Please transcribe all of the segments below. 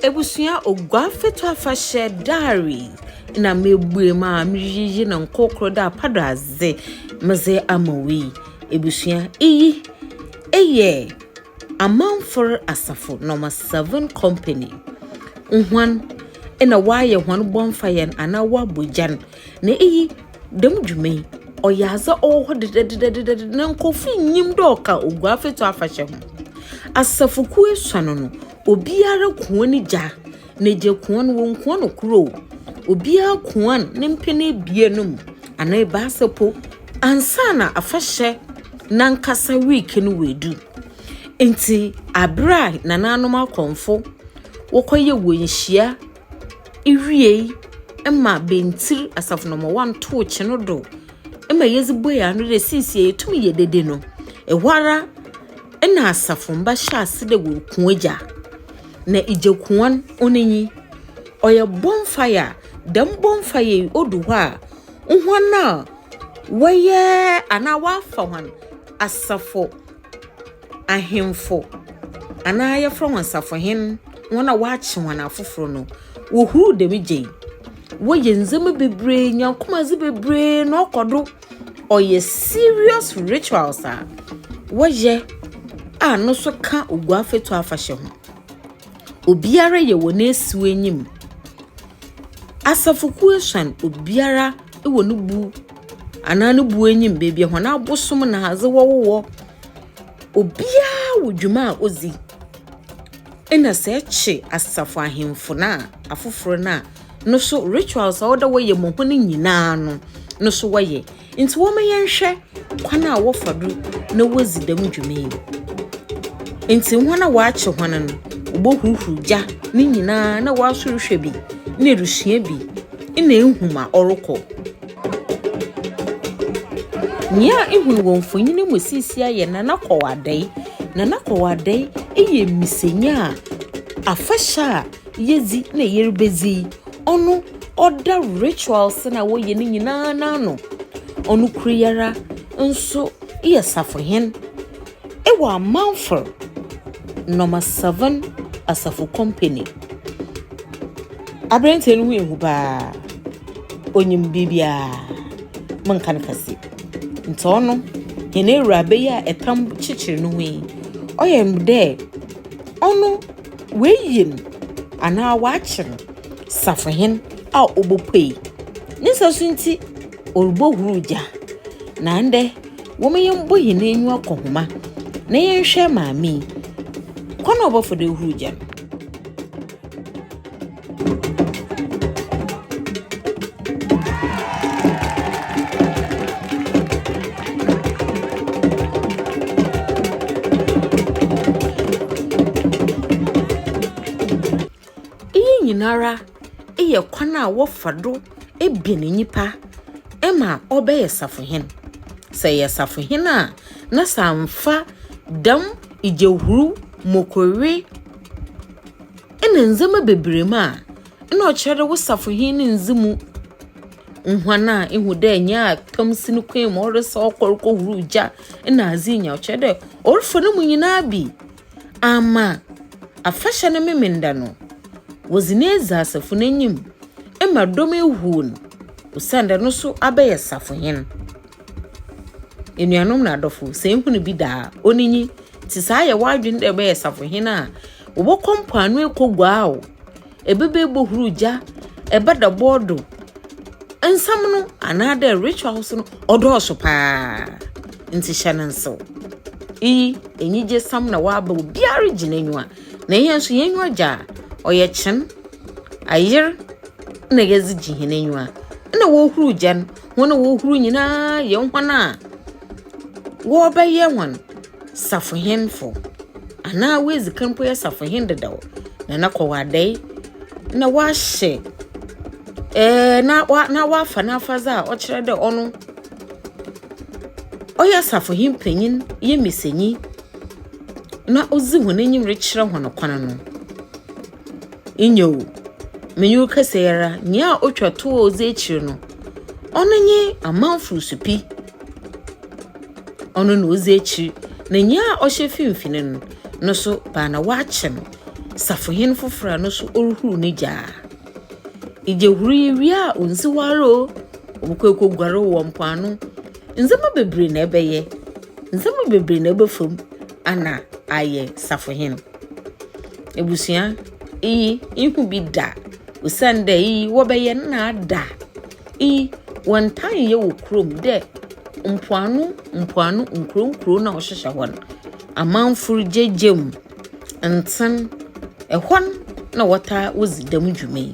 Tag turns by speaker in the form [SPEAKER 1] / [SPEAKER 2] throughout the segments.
[SPEAKER 1] Ebusua Oguaa Feto Afahyɛ Diary na mebue mu a mereyiyi no nkorkor dɛ apadɔadze medze ama wo yi. Ebusua, iyi yɛ Amamfo Asafo Nɔma Seven Company hɔn na wɔayɛ hɔn bɔnfayɛ no anaa wɔabɔ gya no. Na iyi, dɛm dwuma yi, ɔyɛ adze a ɔwɔ hɔ dedɛdedɛdedɛdɛ, na nkorɔfo nnyim dɛ ɔka Oguafɛtu afahyɛ ho. Asafo kuw esuon no, obiara kuan ne gya, na gya kuan, wonnkuan no kor o, obiara kuan ne mpɛn ebien no mu, anaa ebiasa mpo, ansaana afahyɛ nankasa week no oedu. Ntsi aber a nanaanom akɔmfo wɔkɔyɛ hɔn nhyia, iwiei ma bntsir asafo no ma wɔnntow kyen no do ma yedze buei ano dɛ sesei yetum yɛ dede no, hɔara na asafomba hyɛɛ ase dɛ worukua gya. Na gya kuwa no, ɔno nye, ɔyɛ bonfire a dɛm bonfire yi odu hɔ a, hɔn a wɔyɛ anaa wɔafa hɔn asafo. ahemfo anaa yɛfrɛ hɔn safohen, hɔn a wɔakye hɔn afofor no, wohur dɛm gya yi. Wɔyɛ ndzɛmba beberee, nyankomadzi beberee na ɔkɔ do. Ɔyɛ serious rituals a wɔyɛ a no so ka Oguafɛtu afahyɛ ho. Obiara yɛ wɔ n'esiw enyim. Asafo kuw esuon, obiara. wɔ no bu anaa no bu enyim beebi a hɔn abosom na adze wɔwowɔ. Obiara wɔ dwuma a odzi. Nna sɛ ɛkye asafo ahemfo no a, afofor no a, no so rituals a ɔwɔ dɛ wɔyɛ ma hɔn nyina no, no so wɔyɛ. Ntsi wɔma yɛnhwɛ. kwan a wɔfa do na wodzi dɛm dwuma yi. Ntsi hɔn a wɔakye hɔn no, wobohuruhuruw gya ne nyina na wɔaso rohwɛ bi na erusua bi na ehu ma ɔrokɔ. Nyia ihu no wɔ mfonyin yi mu sesei yɛ Nana Kowar Adei. Nana Kowar Adei yɛ mbisanyi a afahyɛ a. yedzi na yeribedzi yi, ɔno ɔda rituals no a wɔyɛ no nyina n'ano. Ɔno kor yi ara so yɛ safohen wɔ Amanfɛr Number Seven Asafo Company. Aberantsɛ no ho ehu paa, onyim biribiara, mennka no kɛse. Ntsi ɔno, hɛn ewuraba yi a tam kyekyer no ho yi, ɔyɛ dɛ ɔno. Woeyi no anaa wɔakyere no safohen a obopuei. Ne nsasu ntsi, orubohuruw gya. Na ndɛ, wɔma yɛmbɔ hɛn enyiwa kɔ homa na yɛnhwɛ maame yi kwan a ɔbɛfa do ehuruw gya no. Iyi nyinara yɛ kwan a wɔfa do bɛn nyimpa ma ɔbɛyɛ safohen. Sɛ eyɛ safohen a, na sɛ ammfa dɛm gyahur, mokowe. Nna ndzɛmba beberee mu a nna ɔkyerɛ dɛ wo safohen no nndzi mu huan a ihu dɛ nyia tam si no kɔn mu ɔresa ɔkɔ rokohuruw gya na adze nyina, ɔkyerɛ dɛ ɔrefa no mu nyina bi ama afahyɛ no Memenda no, wɔdze no edzi asafo no enyim ma dɔm ehuw no osiandɛ no so abɛyɛ safohen. Enuanom na adɔfo, sɛ ihu no bi da a, onyi, ntsi sɛ ayɛ w'adwen dɛ ebɛyɛ safohen a, Wɔbɔkɔ mpoano ekoguaa o, ebɛba ebohur gya, ebɛdɔbor do. Nsɛm no anaadɛ rituals no ɔdɔɔ so paa, ntsi hyɛ no nsew. Iyi, enyigyesɛm na wɔaba obiara regye n'enyiwa, na hɛn so hɛn enyiwa gye a, ɔyɛ kyen, ayer na yɛdze gye hɛn enyiwa. Nna woruhur gya no, hɔn a woruhur nyina yɛ hɔn a wɔrebɛyɛ hɔn. safohenfo, anaa oedzi kan mpo yɛ safohen dedaw, na no kɔ w'adae na ɔahyɛ ɛɛɛ na ɔa na ɔafa n'afadze a ɔkyerɛ dɛ ɔno ɔyɛ safohen panyin, yemisanyi, na odzi hɔn enyim rekyerɛ hɔn kwan no. Nyew, menye wo kasa yi ara, nyia otwa tow a odzi ekyir no, ɔno nye amamfo so pi, ɔno na odzi ekyir, na nyia ɔhyɛ finimfin no, no so ba na wɔakyɛ no safohen fofor a no so oruhuruw ne gyaa. Igyahuru yi wie a, onnsi hɔ ara o, obokɔ ekoguar wɔ mpoano. Ndzɛmba beberee na ebɛyɛ, ndzɛmba beberee na ebɛfa mu, Ana ayɛ safohen. Ebusua, iyi innhu bi da, osiandɛ iyi wɔbɛyɛ nna ada. Iyi wɔnntaa nnyɛ wɔ kurom dɛ mpoano mpoano nkurow nkurow no a ɔhyehyɛ hɔ no, amamfo regyegya mu, ntsen, hɔ na wɔtaa wodzi dɛm dwuma yi.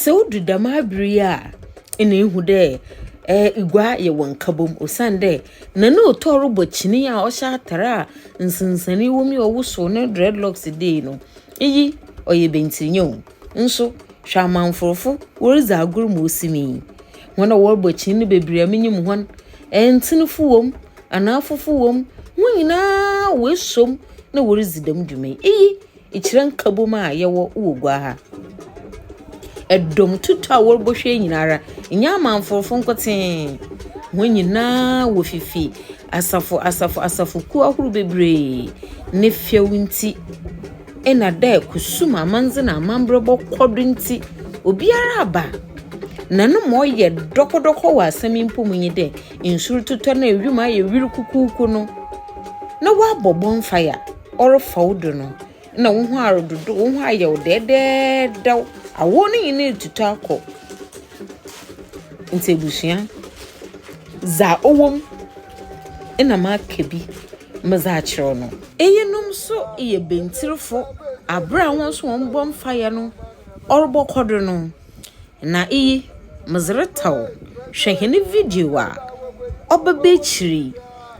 [SPEAKER 1] Sɛ odu dɛm aber yi a, nna ihu dɛ egua yɛ wo nkabɔmu osiandɛ na no tɔ robɔ kyin yi a ɔhyɛ atar a nsensanee wɔ mu yi a ɔwosow no dread locks do yi no, iyi ɔyɛ bntsinyɛ o. Nso hwɛ amamforfo woridzi agor ma osim yi, hɔn a wɔrobɔ kyin no beberee a minyim hɔn, ntsenfo wɔ mu, anafofo wɔ mu, hɔn nyina woesuo mu na woridzi dɛm dwuma yi. Iyi. Ekyirɛ nkabom a yɛwɔ wɔ gua ha. Ɛdɔm tutu a wɔrebohwɛ nyinara nyɛ amanforfo nkotee. Wɔn nyinaa wɔ fifi asafo asafo asafo kuo ahorow bebree. Ne fɛw nti ɛna dɛ kusum amandze na amanbrɛ bɔkɔ do nti obiara aba. Na no ma ɔyɛ dɔkɔdɔkɔ wɔ asɛm yi mpo mu nye dɛ nsu rototɔ na ewim ayɛ wiri kukuuku no na wɔabɔ bonfire. Ɔrefa wo do no, nna woho arododow, woho ayɛ wo dɛɛdɛɛdɛw. Awɔw no nyina etutu akɔ. Ntsi ebusua, dza ɔwɔ mu nna maka bi medze akyerɛw no. Iyinom so yɛ bantsirfo aber a hɔn so hɔn bɔnfayɛ no ɔrobɔkɔ do no. Na iyi, medze reta wo, hwɛ hɛn video a ɔbɛba ekyir yi.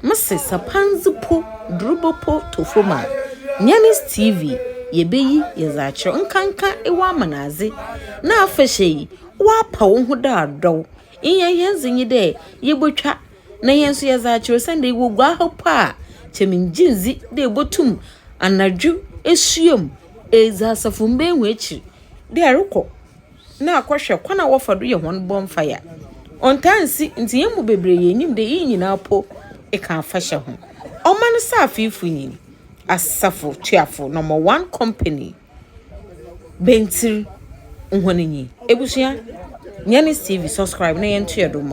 [SPEAKER 1] Mese sɛ pandze po, durubɔ po tɔ famu a, Nyanis TV yebeyi yɛdze akyerɛ wo. Nkanka ewɔ amanadze na afahyɛ yi, wɔapa woho dɛ adɔw. Nyia hɛn dze nye dɛ yebotwa na hɛn so yɛdze akyerɛ wo osiandɛ ewɔ gua ha mpo a, nkyɛ menngye nndzi dɛ ibotum anadwo esua mu edzi asafomba ehu ekyir. dɛ erokɔ na akɔhwɛ kwan a wɔfa do yɛ hɔn bonfire. Ɔnntaa nnsi, ntsi hɛn mu beberee yenyim dɛ iyi nyina mpo kã afahyɛ ho. Ɔman saafiifo nye asafo tuafo, Number One Company, Bantir, hɔn nye. Ebusua, hɛn Steve, subscribe na yɛntoa do mma.